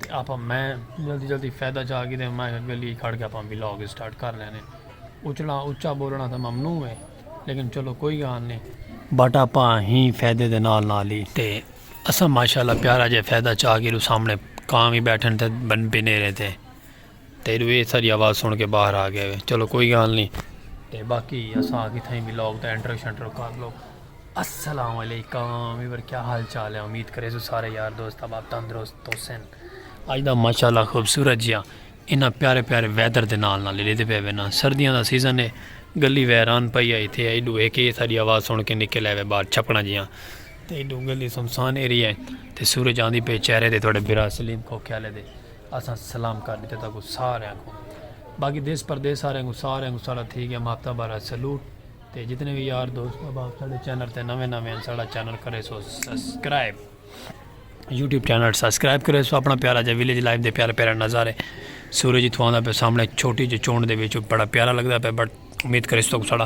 تے آپاں میں جلدی جلدی فیدہ چاہ گی دے میں گلی کھڑ گیا پاں بلاگ اسٹارٹ کر لینے اچھنا اچھا بولنا تھا ممنوع ہے لیکن چلو کوئی گان نہیں بٹ آپاں ہی فیدے دے نال نال ہی تے اسا ماشاءاللہ پیارا جے فیدہ چاہ گی رو سامنے کام ہی بیٹھن تھے بن بنے رہے تھے تیڈو اے ساری آواز سن کے باہر آ گئے ہوئے چلو کوئی گال نہیں تے باقی اساں آگے تھیں بھی لوگ تے انٹرو شنٹرو کر لو السلام علیکم ایور کیا حال چال ہے امید کرے سو سارے یار دوست اب آپ تندرست تو سن آج دا ماشاءاللہ خوبصورت جیا انہاں پیارے پیارے ویدر دے نال نال لے دے پے وینا سردیاں دا سیزن ہے گلی ویران پئی آئی تھے ایڈو ایک اے ساری آواز سن کے نکل آئے بار چھپنا جیاں تے ایڈو گلی سمسان ایریا ہے تے سورج آندھی پے چہرے دے تھوڑے برا سلیم کو کیا لے دے اساں سلام کر ڈتے تہاکوں ساریاں کوں باقی دیس پردیس آریاں کوں ساریاں کوں ساڈا تھی گیا ماپتا بارہ سلوٹ تے جتنے وی یار دوست احباب ساڈے چینل تے نویں نویں ہیں ساڈا چینل کرے سو سبسکرائب یوٹیوب چینل سبسکرائب کرے سو اپنا پیارا جا ویلیج لائف دے پیارے پیارے نظارے سورج اتھوں آندا پہ سامنے چھوٹی جو چونڈ دے وچوں بڑا پیارا لگدا پہ بڑا امید کریس تو ساڑا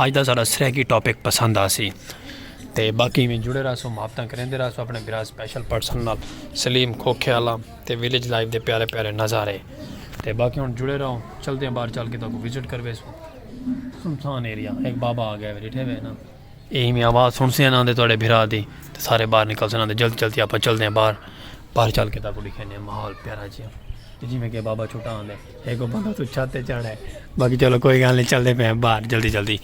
آج دا ساڑا سرہکی ٹاپک پسند آسی تے باقی میں جڑے رہا سو محبتاں کریں دے رہا سو اپنے برا سپیشل پرسن نال سلیم کھوکھے والا تے ویلیج لائف دے پیارے پیارے نظارے تے باقی ہن جڑے رہو چلتے ہیں باہر چل کے تو کو وزٹ کروے سو سنسان ایریا ایک بابا آ گیا بیٹھے ہوئے نا اے ہی میں آواز سن سے انہاں دے توڑے بھرا دی تے سارے باہر نکل سے انہاں دے جلد جلد آپا چل دے ہیں باہر باہر چل کے تاکو ڈکھے نے محول پیارا جی ہیں جی میں کہ بابا چھوٹا آن دے ایک کو بندہ تو چھاتے چڑھ ہے باقی چلو کوئی گانے چل دے پہ ہیں باہر جلدی جلدی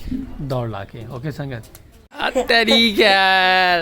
دوڑ لا کے اوکے سنگت تیری کیا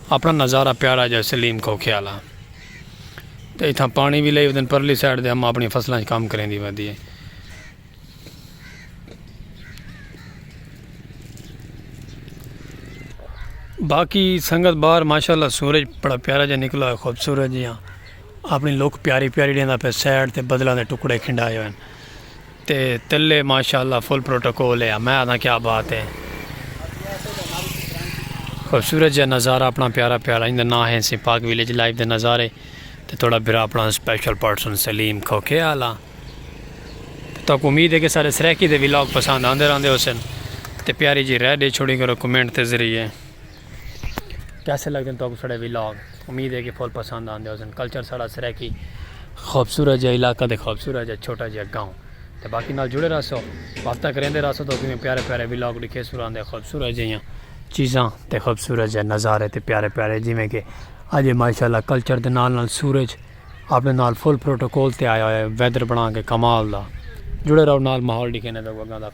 اپنا نظارہ پیارا جا سلیم کھوکھے آلا تے اتھاں پانی وی لئی ودن پرلی سائیڈ دے اماں اپنی فصلاں اچ کم کریندی ودی ہے۔ باقی سنگت باہر ماشاءاللہ سورج بڑا پیارا جا نکلا ہے خوبصورت جیاں اپنی لوک پیاری پیاری ڈیندا پے سائیڈ تے بدلاں دے ٹکڑے کھنڈائے ہوئے ہیں۔ تے تلے ماشاءاللہ فل پروٹوکول ہے میں آدھا کیا بات ہے خوبصورت جا نظارہ اپنا پیارا پیارا اندر نہ ہے سی پاک ویلیج لائف دے نظارے تے تھوڑا برا اپنا اسپیشل پرسن سلیم کھوکھے آلا تو کو امید ہے کہ سارے سریکی دے ویلاگ پسند آندے رہندے ہو سن تے پیاری جی رہ دے چھوڑی کرو کمنٹ تے ذریعے کیسے لگدے ہیں تو اپنے سارے ویلاگ امید ہے کہ فل پسند آندے ہیں کلچر سارا سرائیکی خوبصورت جا علاقہ دے خوبصورت جا چھوٹا جا گاؤں تے باقی نال جڑے رہا سو وقتہ کریں دے رہا سو تو اسی میں پیارے پیارے ویلاگ لکھے سو رہا دے خوبصورت جا یہاں چیزاں تے خوبصورت جا نظارے تے پیارے پیارے جی میں کہ آج ماشاءاللہ کلچر دے نال نال سورج اپنے نال فل پروٹوکول تے آیا ہویا ہے ویدر بنا کے کمال دا جڑے رہا نال ماحول لکھے نے دا گوگا دا.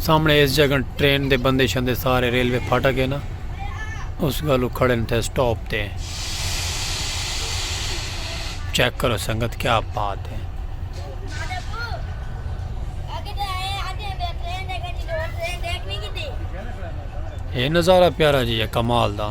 سامنے اس جگہ ٹرین دے بندے شندے سارے ریلوے پھاٹا گئے نا اس گلو کھڑے تھے سٹاپ تے چیک کرو سنگت کیا بات ہے یہ نظارہ پیارا جی ہے کمال دا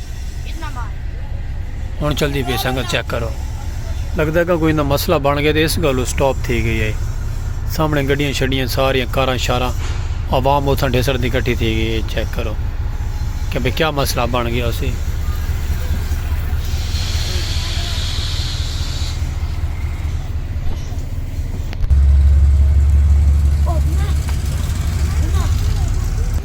ہن چلدی پی سنگت چیک کرو لگدا ہے کہ کوئی نہ مسئلہ بن گیا تے اس گالو سٹاپ تھی گئی ہے سامنے گڈیاں شڈیاں ساریاں کاراں شاراں عوام اتھاں ڈھسر دی کٹھی تھی گئی ہے چیک کرو کہ بھئی کیا مسئلہ بن گیا اسی